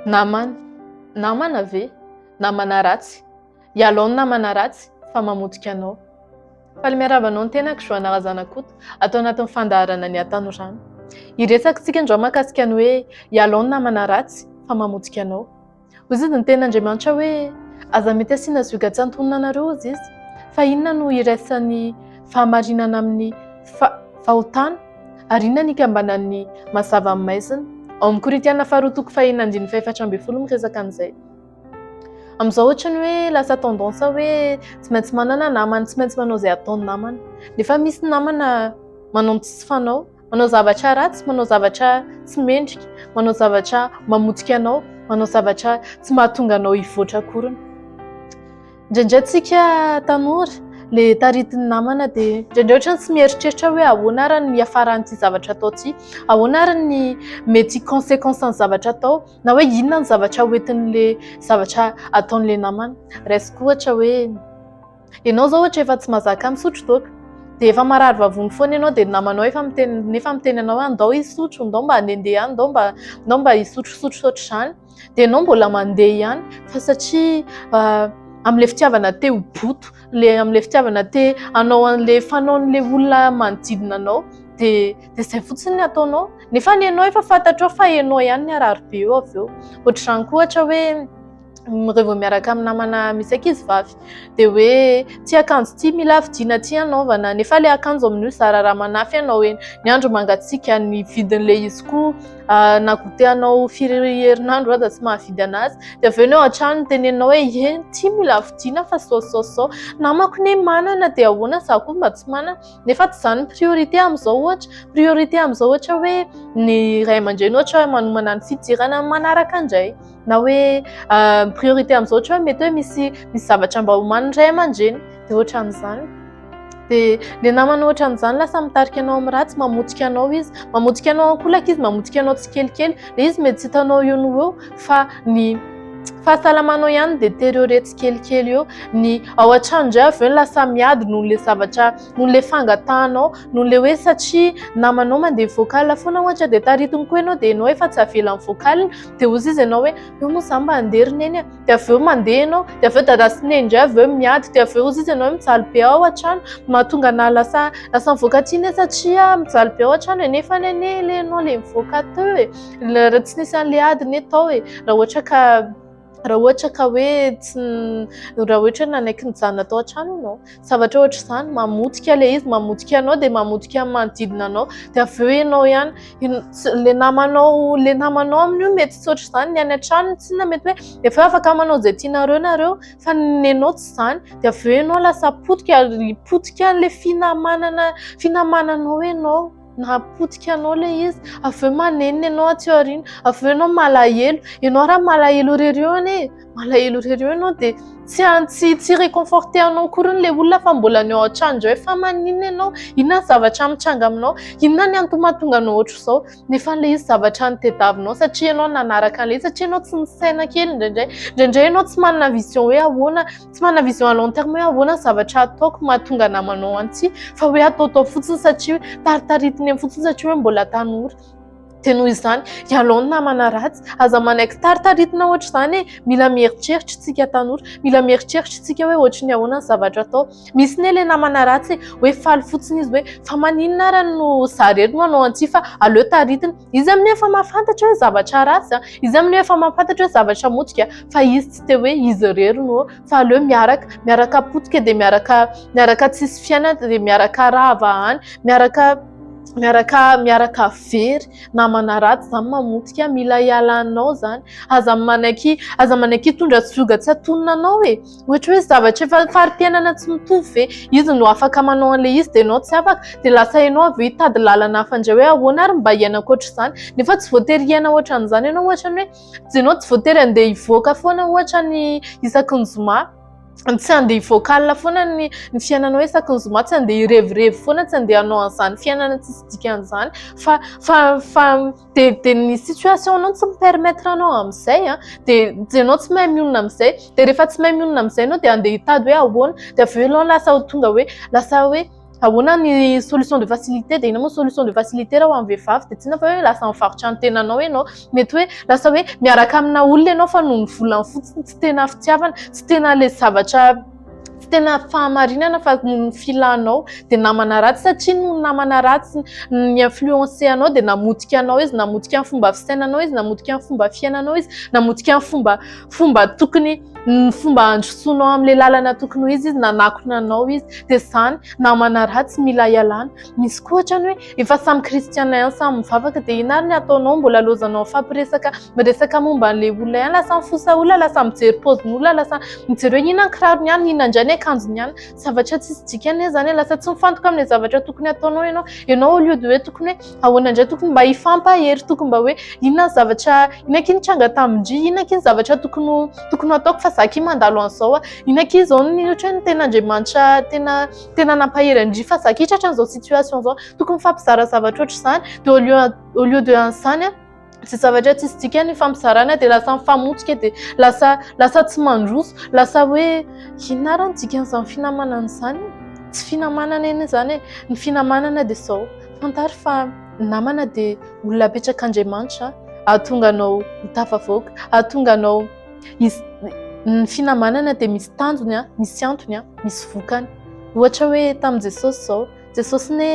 Namana, namana ve? Namana ratsy, ialao ny namana ratsy fa mamotika anao. Faly miarahaba anao ny tenako Joana Razanakoto ato anatin'ny fandaharana ny hatanorano. Hiresaka isika androany mahakasika ny hoe ialao ny namana ratsy fa mamotika anao. Hoy izy ny tenin'Andriamanitra hoe, Aza mety asiana zioga tsy antonona anareo, hozy izy. Fa inona no iraisan'ny fahamarinana amin'ny fahotana? Ary inona ny ikambanan'ny mazava amin'ny maizina? Ao amin'ny Korintiana faharoa toko faheno andininy fahefatra ambin'ny folo miresaka an'izay. Amin'izao ohatra ny hoe lasa tendance hoe tsy maintsy manana namana, tsy maintsy manao izay ataon'ny namana. Nefa misy namana manao ny tsy fanao. Manao zavatra ratsy, manao zavatra tsy mendrika, manao zavatra mamotika anao, manao zavatra tsy mahatonga anao hivoatra akoriny. Indraindray tsika tanora le taritin'ny namana dia indraindray ohatra tsy mieritreritra hoe ahoana ary ny hiafaran'ity zavatra atao ity, ahoana ary ny mety consequence ny zavatra atao na hoe inona ny zavatra hoentin'le zavatra ataon'le namana. Raisiko ohatra hoe. Ianao izao ohatra efa tsy mazaka misotro toaka. Dia efa marary vavony foana ianao dia ny namanao efa miteny nefa miteny anao hoe ndao hisotro, ndao mba handehandeha any, ndao mba ndao mba hisotrosotro ohatr'izany. Dia ianao mbola mandeha ihany fa satria amin'ilay fitiavana te ho boto, ilay amin'ilay fitiavana te hanao an'ilay fanaon'ilay olona manodidina anao dia dia izay fotsiny ny ataonao. Nefa ianao efa fantatrao fa ianao ihany ny harary be eo avy eo. Ohatr'izany koa ohatra hoe. rehefa vao miaraka amin'ny namana misy ankizy vavy dia hoe ity akanjo ity mila vidiana ity hanaovana, nefa ilay akanjo amin'io zara raha manafy ianao eny, ny andro mangatsiaka ny vidin'ilay izy koa na goûté anao firy herinandro aza tsy mahavidy an'azy dia avy eo ny ao an-trano mitenenao hoe eny ity mila vidiana fa sao sao sao, namako anie manana dia ahoana izaho koa mba tsy manana, nefa tsy izany ny priorité amin'izao ohatra, priorité amin'izao ohatra hoe ny ray aman-dreny ohatra manomana ny fidirana amin'ny manaraka indray. na hoe priorité amin'izao ohatra hoe mety hoe misy misy zavatra mba homanin'ny ray aman-dreny dia ohatran'izany dia le namana ohatran'izany lasa mitarika anao amin'ny ratsy mamotika anao izy mamotika anao ankolaka izy mamotika anao tsikelikely le izy mety tsy hitanao eo no eo fa ny fahasalamanao ihany dia teriorer tsikelikely eo ny ao an-trano indray avy eo ny lasa miady noho le zavatra noho le fangatahanao noho le hoe satria namanao mandeha vocal foana ohatra dia taritin'ny koa ianao dia ianao efa tsy avela amin'ny vocal dia hoy izy ianao hoe eo moa izaho mba handeha ry neny a, dia avy eo mandeha ianao, dia avy eo dada sy neny indray avy eo miady, dia avy eo hoy izy ianao hoe mijaly be aho ao an-trano, mahatonga anà lasa lasa mivoaka aty anie satria mijaly be ao an-trano e, nefa anie anie ilay ianao ilay mivoaka teo e, raha tsy nisy an'ilay ady anie tao e, raha ohatra ka raha ohatra ka hoe tsy raha ohatra hoe nanaiky nijanona tao an-trano ianao. zavatra ohatra izany, mamotika ilay izy, mamotika anao dia mamotika ny manodidina anao, dia avy eo ianao ihany, ilay namanao, ilay namanao aminy io mety tsy ohatr'izany, ny any an-tranony tsinona mety hoe efa afaka manao izay tianareo nareo fa ny anao tsy izany, dia avy eo ianao lasa potika ary potika an'ilay finamanana, finamananao ianao. Nahapotika anao ilay izy, avy eo manenina ianao atsy aoriana, avy eo ianao malahelo. Ianao raha malahelo irery eo anie, malahelo irery eo ianao dia tsy an- tsy tsy hi-reconforter anao akory hono ilay olona fa mbola any an-trano indray. Fa maninona ianao? Inona ny zavatra mitranga aminao? Inona ny antony mahatonga anao ohatr'izao? Nefa ilay izy zavatra notediavinao satria ianao nanaraka an'ilay izy, satria ianao tsy misaina kely indraindray. Indraindray ianao tsy manana vision hoe ahoana. Tsy manana vision à long terme hoe ahoana ny zavatra ataoko mahatonga namana ao antsy fa hoe ataotao fotsiny satria hoe taritaritiny eny fotsiny satria hoe mbola tanora. Dia noho izany, ialao ny namana ratsy, aza manaiky taritaritina ohatra izany e, mila mieritreritra isika tanora, mila mieritreritra isika hoe ohatry ny ahoana ny zavatra atao. Misy ne ilay namana ratsy e, hoe faly fotsiny izy hoe fa maninona ary no za irery no hanao antsy fa aleo taritina. Izy amin'io efa mahafantatra hoe zavatra ratsy, izy amin'io efa mahafantatra hoe zavatra motika fa izy tsy te hoe izy irery no fa aleo miaraka miaraka potika dia miaraka miaraka tsisy fiaina dia miaraka rava any miaraka miaraka miaraka very namana ratsy izany mamotika mila hialanao izany aza manaiky aza manaiky hitondra tsy oga tsy atonina anao e ohatra hoe zavatra efa fari-piainana tsy mitovy ve izy no afaka manao an'ilay izy dia ianao tsy afaka dia lasa ianao avy eo hitady lalana hafa indray hoe ahoana ary mba hiaina ankoatra izany nefa tsy voatery hiaina ohatra an'izany ianao ohatra ny hoe Geno tsy voatery handeha hivoaka foana ohatra ny isaky ny zoma, tsy handeha hivoaka alina foana ny fiainanao isaky ny zoma, tsy handeha hirevirevy foana, tsy handeha hanao an'izany fiainana tsisy dikany izany fa fa fa dia dia ny situation-nao tsy mi-permettre anao amin'izay an! dia dia ianao tsy mahay mionona amin'izay, dia rehefa tsy mahay mionona amin'izay ianao dia handeha hitady hoe ahoana? dia avy eo ianao lasa ho tonga hoe lasa hoe. Ahoana ny solution de facilité dia inona moa solution de facilité raha ho an'ny vehivavy dia tsy inona fa hoe lasa mivarotra ny tenanao ianao. Mety hoe lasa hoe miaraka amina olona ianao fa noho ny volany fotsiny tsy tena fitiavana, tsy tena ilay zavatra tsy tena fahamarinana fa noho ny filanao dia namana ratsy satria noho ny namana ratsy ni influencer anao dia namotika anao izy, namotika ny fomba fisainanao izy, namotika ny fomba fiainanao izy, namotika ny fomba tokony ny fomba handrosoanao amin'ilay lalana tokony ho izy izy nanakona anao izy dia izany namana ratsy mila ialana misy koa ohatrany hoe efa samy kristiana ihany samy mivavaka dia inona ary ny ataonao mbola lozanao mifampiresaka miresaka momba an'ilay olona ihany lasa mifosa olona lasa mijery paoziny olona lasa mijery hoe inona ny kirarony ihany inona indray ny akanjony ihany zavatra tsisy dikany hoe izany lasa tsy mifantoka amin'ilay zavatra tokony ataonao ianao ianao au lieu de hoe tokony hoe Ahoana indray tokony mba hifampa hery tokony mba hoe inona ny zavatra inona akia nitranga tamin-dry inona akia ny zavatra tokony ho tokony ho ataoko fa za akia mandalo an'izao inona akia izao ny ohatra hoe ny ten'Andriamanitra tena tena nampahery an-dry fa za akia tratra an'izao situation izao tokony mifampizara zavatra ohatr'izany de au lieu au lieu de an'izany a tsy zavatra tsisy dikany ny fampizarana dia lasa mifamotsika dia lasa lasa tsy mandroso lasa hoe inona ary ny dikan'izany finamanana izany tsy finamanana anie izany e ny finamanana dia izao fantaro fa ny namana dia olona apetrak'Andriamanitra hahatonga anao ho tafavoaka hahatonga anao hisy ny finamanana dia misy tanjony an misy antony an misy vokany ohatra hoe tamin'i Jesosy izao Jesosy ne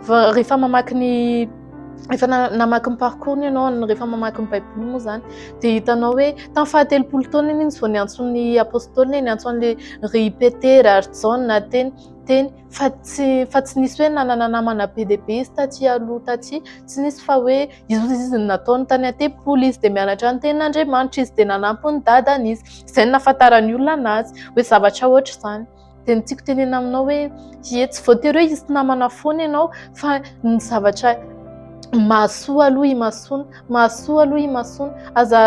rehefa mamaky ny efa namaky ny parcours ny ianao rehefa mamaky ny baiboly moa zany dia hitanao hoe tamin'ny fahatelopolo taona iny izy vao niantson'ny apostolina niantso an'le ry petera ary jaona teny teny fa tsy fa tsy nisy hoe nanana namana be dia be izy taty aloha taty tsy nisy fa hoe izy izy nataony tany an-tempoly izy dia mianatra ny tenin'andriamanitra izy dia nanampy ny dadany izy izay ny nahafantaran'ny olona anazy hoe zavatra ohatra izany dia ny tiako tenena aminao hoe ie tsy voatery hoe hisy namana foana ianao fa ny zavatra mahasoa aloha imasoana mahasoa aloha imasoana aza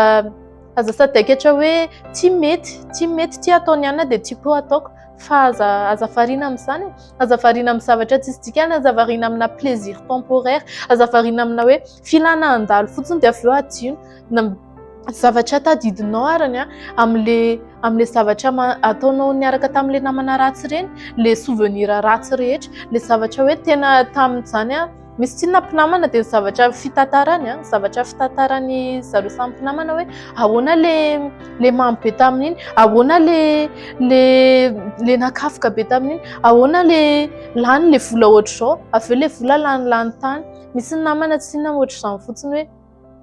aza sadaikatra hoe tsy mety tsy mety tsy ataony ihany dia tsy koa ataoko fa aza aza variana amin'izany aza variana amin'ny zavatra tsisy dikany aza variana amina plaisir temporaire aza variana amina hoe Filana handalo fotsiny dia avy eo hadino na zavatra tadidinao arany amin'ilay amin'ilay zavatra ataonao niaraka tamin'ilay namana ratsy ireny, ilay souvenir ratsy rehetra, ilay zavatra hoe tena tamin'izany aho. Misy tsinona mpinamana dia ny zavatra fitantarany, ny zavatra fitantaran'ny zareo samy mpinamana hoe ahoana ilay ilay mamy be tamin'iny, ahoana ilay ilay ilay nakafoka be tamin'iny, ahoana ilay lany ilay vola hoatr'izao, avy eo ilay vola lany lany tany. Misy ny namana tsy inona ohatr'izany fotsiny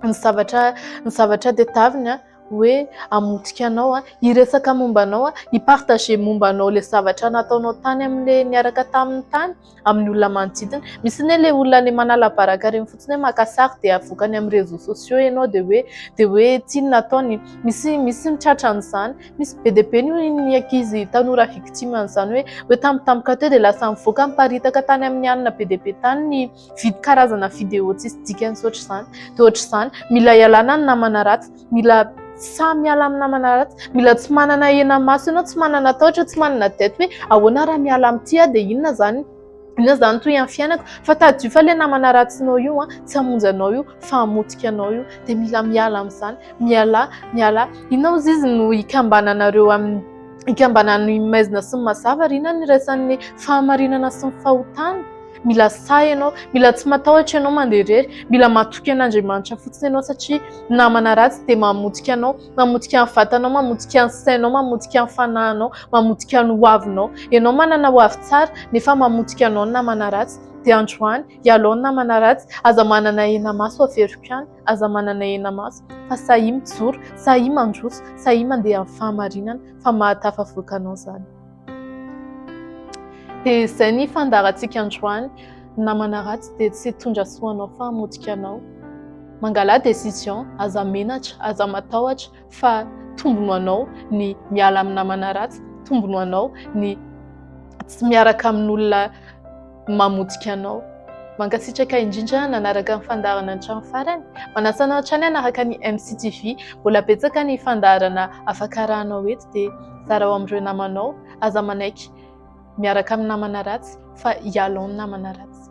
hoe ny zavatra ny zavatra tadiaviny hoe hamotika anao, hiresaka momba anao, hi-partager momba anao ilay zavatra nataonao tany amin'ilay niaraka taminy tany amin'ny olona manodidina. Misy anie ilay olona any manala baraka ireny fotsiny hoe maka sary dia avoakany amin'ny réseaux sociaux ianao dia hoe dia hoe ity no nataony. Misy misy ny tratran'izany. Misy be dia be ny ankizy tanora victime an'izany hoe hoe tampotampoka teo dia lasa nivoaka niparitaka tany amin'ny alina be dia be tany ny vid- karazana video tsisy dikany sy ohatr'izany. Dia ohatr'izany, mila ialana ny namana ratsy, mila sahy miala amin'ny namana ratsy, mila tsy manana henamaso ianao, tsy manana tahotra, tsy manana dette hoe ahoana raha miala amin'ity aho dia inona izany. Inona izany toy amin'ny fiainako? Fa tadidio fa ilay namana ratsinao io tsy hamonjy anao io fa hamotika anao io dia mila miala amin'izany. Mialà, mialà. Inona ozy izy no ikambananareo amin'ny ikambanan'ny maizina sy ny mazava ary inona no iraisan'ny fahamarinana sy ny fahotana? Mila sahy ianao, mila tsy matahotra ianao mandeha irery, mila matoky an'Andriamanitra fotsiny ianao satria ny namana ratsy dia mamotika anao. Mamotika ny vatanao, mamotika ny sainao, mamotika ny fanahinao, mamotika ny hoavinao. Ianao manana ho avy tsara nefa mamotika anao ny namana ratsy. Dia androany, ialao ny namana ratsy. Aza manana henamaso averiko ihany, aza manana henamaso, fa sahia mijoro, sahia mandroso, sahia mandeha amin'ny fahamarinana, fa mahatafavoaka anao izany. Dia izay ny fandaharantsika androany, ny namana ratsy dia tsy hitondra soa anao fa hamotika anao. Mangala décision, aza menatra, aza matahotra fa tombony ho anao ny miala amin'ny namana ratsy, tombony ho anao ny tsy miaraka amin'olona. mamotika anao. Mankasitraka indrindra nanaraka ny fandaharana hatramin'ny farany. Manasa anao hatrany hanaraka ny MCTV. Mbola betsaka ny fandaharana afaka arahanao eto dia zarao amin'ireo namanao. Aza manaiky miaraka amin'ny namana ratsy fa ialao ny namana ratsy.